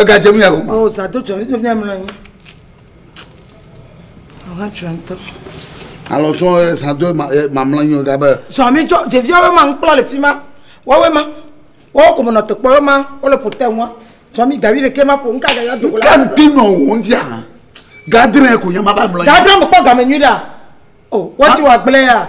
egadze nu ya gɔme. o zã do tsɔ nítorí fia mlɔ anyi ọ̀hán tsɔ ŋutɔ. alɔ tsɔ zã do mamlɔ anyi o gabe. zɔ mi tsɔ ɖeviawo ma ŋkplɔ le fi ma wɔwɔ ma wɔwɔ kò mɔnɔ tɔkpɔ yɔ ma wole pòtɛ ŋua zɔ mi gawi ɖeke ma ƒo ŋka ga ya dogo la. nka ŋti nɔ wò ŋti hã gadre kò yɛ ma va mlɔ anyi. gadre mekpɔ game nyui ɖa o wɔtsi wɔ agblẽ ya.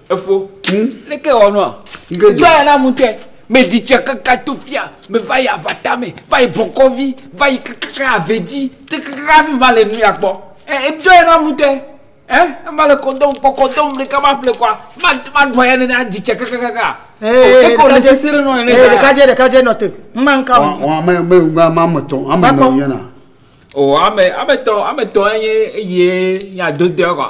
Efo. Hm? Leke wɔ nua? Nke dze. Zɔya na mutɛ. Me ɖi tsia kaka to fia, me va yi avata me, va yi bɔkɔvi, va yi kakaka ave dzi, tse kakaka hafi va le nuya kpɔ. Eh, edzɔya na mutɛ. Eh, ne va le kɔdɔm kpɔ, kɔdɔm ɖeka ma ƒle kɔa, ma, ma ɖua ya nene aɖi tsia kakakaka. Ee, leke wòle sese ɖe nɔ nene zã ya? Ɖekadze, ɖekadze nɔ te. Ŋma ŋka o. Wɔ, wɔ ame, ame ŋgbe ame ame tɔ̃, ame ene wònye na. O, ame, ame tɔ̃, ame tɔ̃ enye eye ya dodoea kɔa?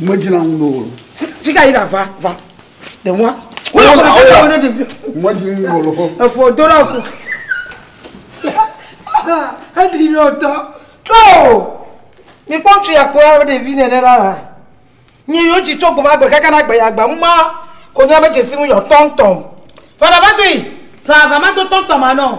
Medzra ŋu ɖo. Fi ka yi ɖa va va. Ɖe ŋua. Wole wole wole wole ɖevi. Medzra ŋu ɖo lɔ. Efo do ɖe aku. Eɖi lɔ tɔ. Tɔ. Mi kpɔ ŋutsu ya kpɔ ya ɖevi nene la la. Nyi yóò tsi tso gbɔma gbe kaka na gbe ya gba mu ma ko nya me dzesi mu yɔ tɔntɔn. Vana va do yi. Vava ma do tɔntɔn ma nɔ.